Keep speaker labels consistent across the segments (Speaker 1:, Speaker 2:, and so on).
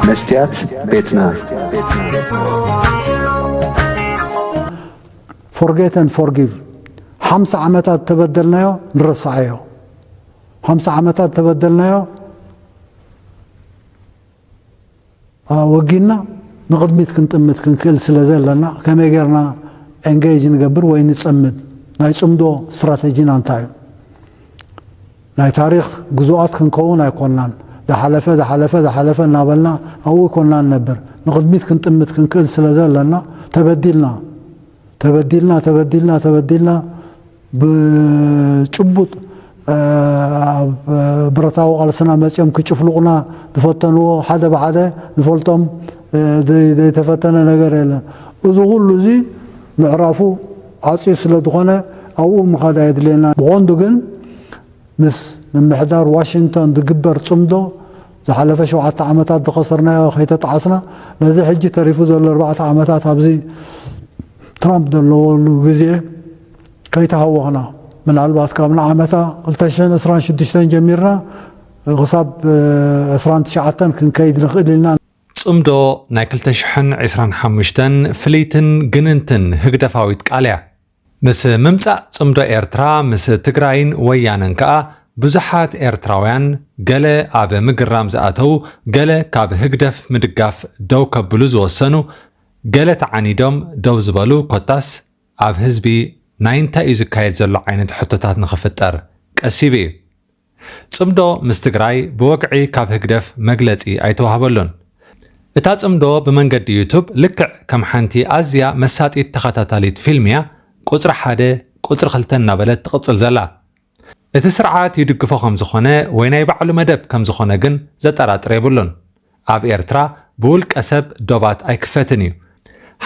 Speaker 1: መስትያት ቤትና
Speaker 2: ፎርጌት ን ፎርጊቭ ሓምሳ ዓመታት ተበደልናዮ ንረስዓዮ ሓምሳ ዓመታት ተበደልናዮ ወጊንና ንቕድሚት ክንጥምት ክንክእል ስለ ዘለና ከመይ ጌርና ኤንገይጅ ንገብር ወይ ንጸምድ? ናይ ጽምዶ ስትራተጂና እንታይ እዩ? ናይ ታሪኽ ግዙኣት ክንከውን ኣይኮናን። ዝሓለፈ ዝሓለፈ ዝሓለፈ እናበልና ኣብኡ ኣይኮናን ንነብር። ንቕድሚት ክንጥምት ክንክእል ስለ ዘለና ተበዲልና ተበዲልና ተበዲልና ተበዲልና ብጭቡጥ ኣብ ብረታዊ ቃልስና መጺኦም ክጭፍልቑና ዝፈተንዎ ሓደ ብሓደ ንፈልጦም ዘይተፈተነ ነገር የለን። እዚ ኩሉ እዚ ምዕራፉ ዓጽዩ ስለ ዝኾነ ኣብኡ ምኻድ ኣየድልየናን። ብቐንዱ ግን ምስ ምምሕዳር ዋሽንግቶን ዝግበር ጽምዶ ዝሓለፈ ሸውዓተ ዓመታት ዝኸሰርናዮ ከይተጣዓስና ነዚ ሕጂ ተሪፉ ዘሎ ኣርባዕተ ዓመታት ኣብዚ ትራምፕ ዘለወሉ ግዜ ከይተሃወኽና ምናልባት ካብ ንዓመታ ክልተ ሽሕን ዕስራን ሽዱሽተን ጀሚርና ክሳብ ዕስራን ትሽዓተን ክንከይድ ንኽእል ኢና። ጽምዶ
Speaker 3: ናይ ክልተ ሽሕን ዕስራን ሓሙሽተን ፍልይትን ግንንትን ህግደፋዊት ቃል'ያ። ምስ ምምጻእ ጽምዶ ኤርትራ ምስ ትግራይን ወያነን ከኣ ብዙሓት ኤርትራውያን ገለ ኣብ ምግራም ዝኣተዉ፣ ገለ ካብ ህግደፍ ምድጋፍ ደው ከብሉ ዝወሰኑ፣ ገለ ተዓኒዶም ደው ዝበሉ ኮታስ ኣብ ህዝቢ ናይ እንታይ እዩ ዝካየድ ዘሎ ዓይነት ሕቶታት ንኽፍጠር ቀስ ይብ እዩ። ፅምዶ ምስ ትግራይ ብወግዒ ካብ ህግደፍ መግለፂ ኣይተዋህበሉን። እታ ፅምዶ ብመንገዲ ዩቱብ ልክዕ ከም ሓንቲ ኣዝያ መሳጢት ተኸታታሊት ፊልም እያ ቁፅሪ ሓደ ቁፅሪ ክልተ እናበለት ትቕፅል ዘላ። እቲ ስርዓት ይድግፎ ከም ዝኾነ ወይ ናይ ባዕሉ መደብ ከም ዝኾነ ግን ዘጠራጥር የብሉን። ኣብ ኤርትራ ብውልቀ ሰብ ዶባት ኣይክፈትን እዩ።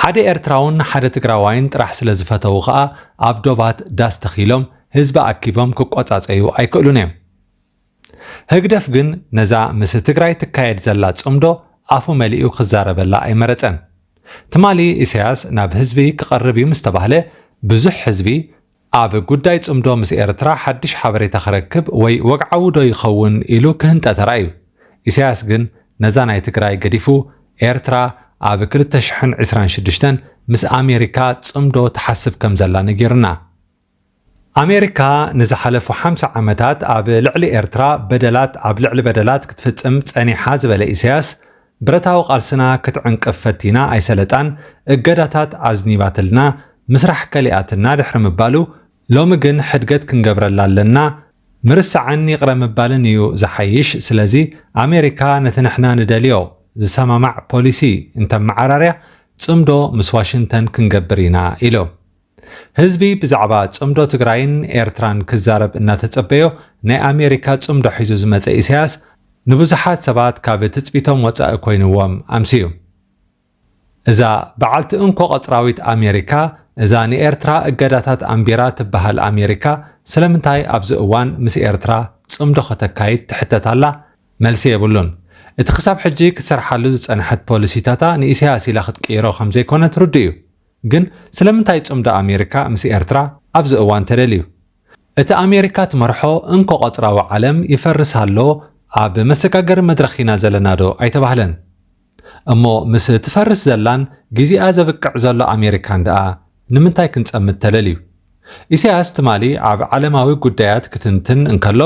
Speaker 3: ሓደ ኤርትራውን ሓደ ትግራዋይን ጥራሕ ስለ ዝፈተዉ ከኣ ኣብ ዶባት ዳስ ተኺሎም ህዝቢ ኣኪቦም ክቆጻጸዩ ኣይክእሉን እዮም። ህግደፍ ግን ነዛ ምስ ትግራይ ትካየድ ዘላ ጽምዶ ኣፉ መሊኡ ክዛረበላ ኣይመረጸን። ትማሊ ኢሳያስ ናብ ህዝቢ ክቐርብ እዩ ምስ ተባህለ ብዙሕ ህዝቢ ኣብ ጉዳይ ጽምዶ ምስ ኤርትራ ሓድሽ ሓበሬታ ክረክብ ወይ ወግዓዊ ዶ ይኸውን ኢሉ ክህንጠ ተራእዩ። ኢሳያስ ግን ነዛ ናይ ትግራይ ገዲፉ ኤርትራ ኣብ ክልተ ሽሕን ዕስራን ሽዱሽተን ምስ ኣሜሪካ ጽምዶ ትሓስብ ከም ዘላ ነጊሩና። ኣሜሪካ ንዝሓለፉ ሓምሳ ዓመታት ኣብ ልዕሊ ኤርትራ በደላት ኣብ ልዕሊ በደላት ክትፍጽም ጸኒሓ ዝበለ ኢሳያስ፣ ብረታዊ ቃልስና ክትዕንቅፍ ፈቲና ኣይሰለጣን፣ እገዳታት ኣዝኒባትልና፣ ምስራሕ ከሊኣትና ድሕሪ ምባሉ፣ ሎሚ ግን ሕድገት ክንገብረላ ኣለና፣ ምርሳዕን ይቕረ ምባልን እዩ ዝሓይሽ፣ ስለዚ ኣሜሪካ ነቲ ንሕና ንደልዮ ዝሰማማዕ ፖሊሲ እንተመዓራርያ፣ ጽምዶ ምስ ዋሽንተን ክንገብር ኢና ኢሉ። ህዝቢ ብዛዕባ ጽምዶ ትግራይን ኤርትራን ክዛረብ እናተጸበዮ ናይ ኣሜሪካ ጽምዶ ሒዙ ዝመጸ ኢሳያስ ንብዙሓት ሰባት ካብ ትጽቢቶም ወጻኢ ኮይንዎም ኣምስዩ። እዛ በዓልቲ እንኮ ቀጽራዊት ኣሜሪካ እዛ ንኤርትራ እገዳታት ኣንቢራ ትበሃል ኣሜሪካ ስለምንታይ ኣብዚ እዋን ምስ ኤርትራ ጽምዶ ከተካይድ ትሕተት ኣላ? መልሲ የብሉን። እቲ ክሳብ ሕጂ ክትሰርሓሉ ዝጸንሐት ፖሊሲታታ ንኢሳያስ ኢላ ክትቅይሮ ከምዘይኮነት ርዱእ እዩ። ግን ስለምንታይ ጽምዶ ኣሜሪካ ምስ ኤርትራ ኣብዚ እዋን ተደልዩ? እቲ ኣሜሪካ ትመርሖ እንኮ ቀጽራዊ ዓለም ይፈርስ ኣሎ ኣብ መሰጋገሪ መድረኽ ኢና ዘለና ዶ ኣይተባህለን? እሞ ምስ ትፈርስ ዘላን ግዜኣ ዘብቅዕ ዘሎ ኣሜሪካን ደኣ ንምንታይ ክንጸምድ ተደልዩ? ኢሳያስ ትማሊ ኣብ ዓለማዊ ጉዳያት ክትንትን እንከሎ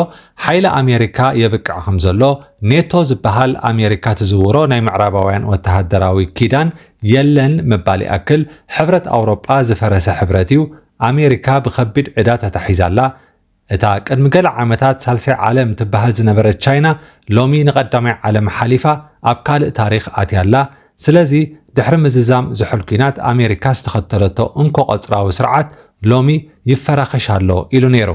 Speaker 3: ሓይሊ ኣሜሪካ የብቅዕ ከምዘሎ፣ ኔቶ ዝበሃል ኣሜሪካ ትዝውሮ ናይ ምዕራባውያን ወተሃደራዊ ኪዳን የለን ምባል ይኣክል፣ ሕብረት ኣውሮጳ ዝፈረሰ ሕብረት'ዩ፣ ኣሜሪካ ብኸቢድ ዕዳ ተታሒዛ'ላ፣ እታ ቅድሚ ገለ ዓመታት ሳልሳይ ዓለም ትበሃል ዝነበረት ቻይና ሎሚ ንቐዳማይ ዓለም ሓሊፋ ኣብ ካልእ ታሪኽ ኣትያ ኣላ። ስለዚ ድሕሪ ምዝዛም ዝሑል ኲናት ኣሜሪካ ዝተኸተለቶ እንኮ ቀጽራዊ ስርዓት ሎሚ ይፈራኸሽ ኣሎ ኢሉ ነይሩ።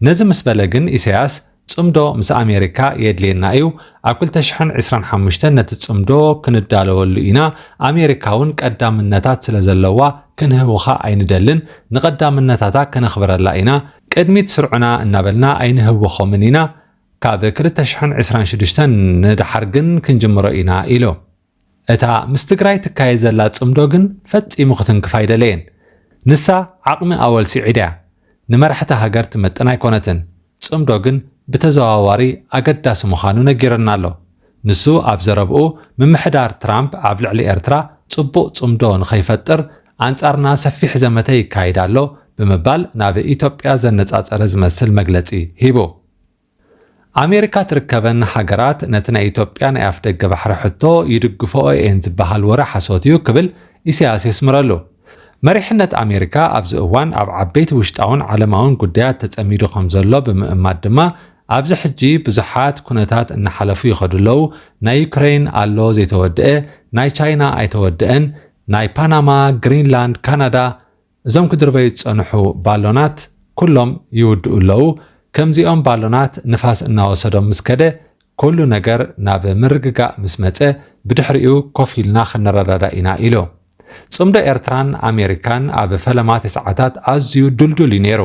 Speaker 3: ነዚ ምስ በለ ግን ኢሳያስ ጽምዶ ምስ ኣሜሪካ የድልየና እዩ ኣብ ክልተ ሽሕን ዕስራን ሓሙሽተን ነቲ ጽምዶ ክንዳለወሉ ኢና ኣሜሪካ ውን ቀዳምነታት ስለ ዘለዋ ክንህውኻ ኣይንደልን ንቀዳምነታታ ከነኽብረላ ኢና ቅድሚት ስርዑና እናበልና ኣይንህውኾምን ኢና ካብ ክልተ ሽሕን ዕስራን ሽዱሽተን ንደሓር ግን ክንጅምሮ ኢና ኢሉ። እታ ምስ ትግራይ ትካየድ ዘላ ጽምዶ ግን ፈጺሙ ክትንክፍ ኣይደለየን። ንሳ ዓቕሚ ኣወል ስዒድ እያ። ንመራሕቲ ሃገር ትመጥን ኣይኮነትን። ጽምዶ ግን ብተዘዋዋሪ ኣገዳሲ ምዃኑ ነጊሩና ኣሎ። ንሱ ኣብ ዘረብኡ ምምሕዳር ትራምፕ ኣብ ልዕሊ ኤርትራ ጽቡቕ ጽምዶ ንኸይፈጥር ኣንጻርና ሰፊሕ ዘመተ ይካይድ ኣሎ ብምባል ናብ ኢትዮጵያ ዘነጻጸረ ዝመስል መግለጺ ሂቡ። ኣሜሪካ ትርከበን ሃገራት ነቲ ናይ ኢትዮጵያ ናይ ኣፍደገ ባሕሪ ሕቶ ይድግፈኦ እየን ዝበሃል ወረ ሓሶት እዩ ክብል ኢሳያስ የስምረሉ። መሪሕነት ኣሜሪካ ኣብዚ እዋን ኣብ ዓበይቲ ውሽጣውን ዓለማውን ጉዳያት ተጸሚዱ ከምዘሎ ብምእማት ድማ ኣብዚ ሕጂ ብዙሓት ኩነታት እናሓለፉ ይኸዱ ኣለዉ፣ ናይ ዩክረይን ኣሎ ዘይተወድኤ፣ ናይ ቻይና ኣይተወደኤን፣ ናይ ፓናማ፣ ግሪንላንድ፣ ካናዳ፣ እዞም ክድርበዩ ዝጸንሑ ባሎናት ኩሎም ይውድኡ ኣለዉ። ከምዚኦም ባሎናት ንፋስ እናወሰዶም ምስ ከደ፣ ኩሉ ነገር ናብ ምርግጋእ ምስ መጸ፣ ብድሕሪኡ ኮፍ ኢልና ክንረዳዳእ ኢና ኢሉ። ጽምዶ ኤርትራን ኣሜሪካን ኣብ ፈለማ ትስዓታት ኣዝዩ ድልዱል እዩ ነይሩ።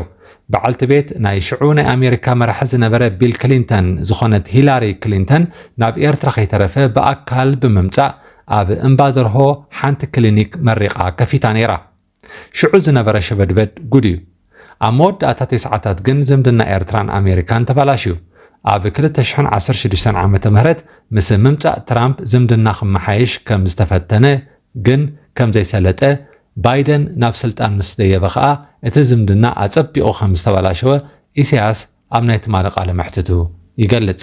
Speaker 3: በዓልቲ ቤት ናይ ሽዑ ናይ ኣሜሪካ መራሒ ዝነበረ ቢል ክሊንተን ዝኾነት ሂላሪ ክሊንተን ናብ ኤርትራ ከይተረፈ ብኣካል ብምምጻእ ኣብ እምባደርሆ ሓንቲ ክሊኒክ መሪቓ ከፊታ ነይራ። ሽዑ ዝነበረ ሸበድበድ ጉድ እዩ። ኣብ መወዳእታ ቴስዓታት ግን ዝምድና ኤርትራን ኣሜሪካን ተባላሽዩ። ኣብ ክልተ ሽሕን ዓሰርተ ሽዱሽተን ዓመተ ምህረት ምስ ምምጻእ ትራምፕ ዝምድና ክመሓየሽ ከም ዝተፈተነ ግን ከም ዘይሰለጠ፣ ባይደን ናብ ስልጣን ምስ ደየበ ከኣ እቲ ዝምድና ኣጸቢቑ ከም ዝተባላሸወ ኢሳያስ ኣብ ናይ ትማሊ ቃለ መሕትቱ ይገልጽ።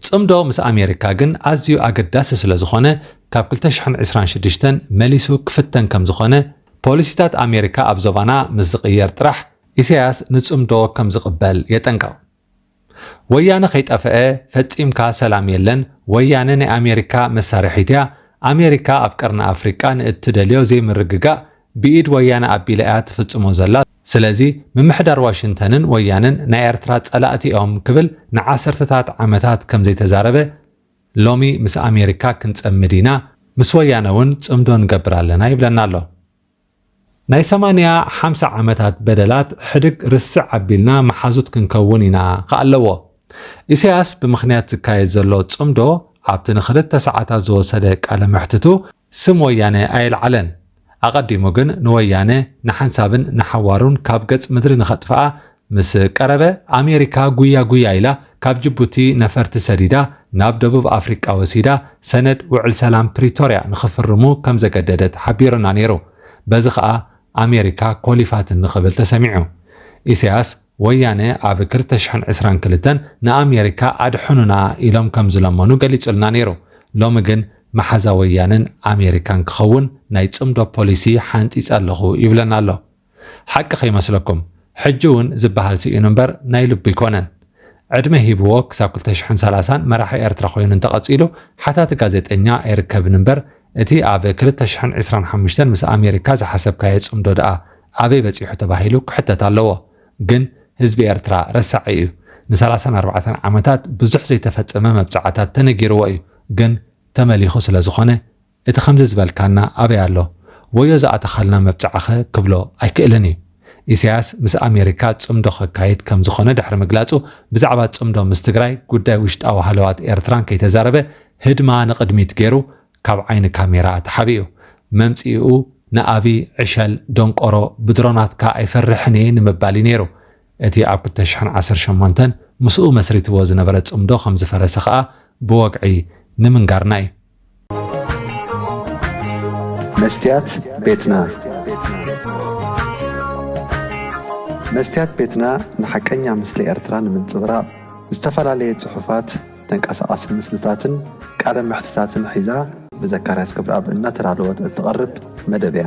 Speaker 3: ጽምዶ ምስ ኣሜሪካ ግን ኣዝዩ ኣገዳሲ ስለዝኾነ ካብ ክልተ ሽሕን ዕስራን ሽዱሽተን መሊሱ ክፍተን ከምዝኾነ፣ ፖሊሲታት ኣሜሪካ ኣብ ዞባና ምስ ዝቕየር ጥራሕ ኢሳያስ ንጽምዶ ከምዝቕበል የጠንቅቕ። ወያነ ከይጠፈኤ ፈጺምካ ሰላም የለን፣ ወያነ ናይ ኣሜሪካ መሳርሒት'ያ፣ ኣሜሪካ ኣብ ቀርኒ ኣፍሪቃ ንእትደልዮ ዘይምርግጋእ ብኢድ ወያነ ኣቢላ እያ ትፍጽሞ ዘላ ስለዚ ምምሕዳር ዋሽንተንን ወያነን ናይ ኤርትራ ጸላእቲ እዮም ክብል ንዓሰርተታት ዓመታት ከም ዘይተዛረበ ሎሚ ምስ ኣሜሪካ ክንጸምድ ኢና ምስ ወያነ እውን ጽምዶ ንገብር ኣለና ይብለና ኣሎ። ናይ ሰማንያ ሓምሳ ዓመታት በደላት ሕድግ ርስዕ ኣቢልና መሓዙት ክንከውን ኢና ክኣለዎ። ኢሰያስ ብምኽንያት ዝካየድ ዘሎ ጽምዶ ኣብቲ ንክልተ ሰዓታት ዝወሰደ ቃለ መሕትቱ ስም ወያነ ኣየልዓለን። ኣቐዲሙ ግን ንወያነ ንሓንሳብን ንሓዋሩን ካብ ገጽ ምድሪ ንኸጥፍኣ ምስ ቀረበ፣ ኣሜሪካ ጉያ ጉያ ኢላ ካብ ጅቡቲ ነፈርቲ ሰዲዳ ናብ ደቡብ ኣፍሪቃ ወሲዳ ሰነድ ውዕል ሰላም ፕሪቶርያ ንኽፍርሙ ከም ዘገደደት ሓቢሩና ነይሩ። በዚ ኸኣ ኣሜሪካ ኮሊፋትኒ ክብል ተሰሚዑ። ኢሳያስ። ወያነ ኣብ ክልተ ሽሕን ዕስራን ክልተን ንኣሜሪካ ኣድሕኑና ኢሎም ከም ዝለመኑ ገሊጹልና ነይሩ። ሎሚ ግን መሓዛ ወያነን ኣሜሪካን ክኸውን ናይ ጽምዶ ፖሊሲ ሓንጺጸ ኣለኹ ይብለና ኣሎ። ሓቂ ከይመስለኩም ሕጂ እውን ዝበሃል ስኢኑ እምበር ናይ ልቡ ኣይኮነን። ዕድመ ሂብዎ ክሳብ ክልተ ሽሕን ሰላሳን መራሒ ኤርትራ ኮይኑ እንተቐጺሉ ሓታቲ ጋዜጠኛ ኣይርከብን እምበር እቲ ኣብ ክልተ ሽሕን ዕስራን ሓሙሽተን ምስ ኣሜሪካ ዝሓሰብካዮ ጽምዶ ድኣ ኣበይ በጺሑ ተባሂሉ ክሕተት ኣለዎ። ግን ህዝቢ ኤርትራ ረሳዒ እዩ። ንሰላሳን ኣርባዕተን ዓመታት ብዙሕ ዘይተፈጸመ መብጽዓታት ተነጊርዎ እዩ። ግን ተመሊኹ ስለ ዝኾነ እቲ ከምዚ ዝበልካና ኣበይ ኣሎ? ወዮ ዝኣተኻልና መብጽዓኸ ክብሎ ኣይክእልን እዩ። ኢሳያስ ምስ ኣሜሪካ ጽምዶ ከካይድ ከም ዝኾነ ድሕሪ ምግላጹ፣ ብዛዕባ ጽምዶ ምስ ትግራይ፣ ጉዳይ ውሽጣዊ ሃለዋት ኤርትራን ከይተዛረበ ህድማ ንቕድሚት ገይሩ ካብ ዓይኒ ካሜራ ተሓቢኡ። መምጽኢኡ ንኣብይ ዕሸል ደንቆሮ ብድሮናትካ ኣይፈርሕን እየ ንምባል እዩ ነይሩ። እቲ ኣብ ክልተ ሽሕን ዓሰርተ ሸሞንተን ምስኡ መስሪትዎ ዝነበረ ጽምዶ ከም ዝፈረሰ ከኣ ብወግዒ ንምንጋርና እዩ።
Speaker 1: መስትያት ቤትና መስትያት ቤትና ንሓቀኛ ምስሊ ኤርትራ ንምንጽብራቕ ዝተፈላለየ ጽሑፋት፣ ተንቀሳቓሲ ምስልታትን ቃለ መሕትታትን ሒዛ ብዘካርያስ ገብረኣብ እናተዳለወት እትቐርብ መደብ እያ።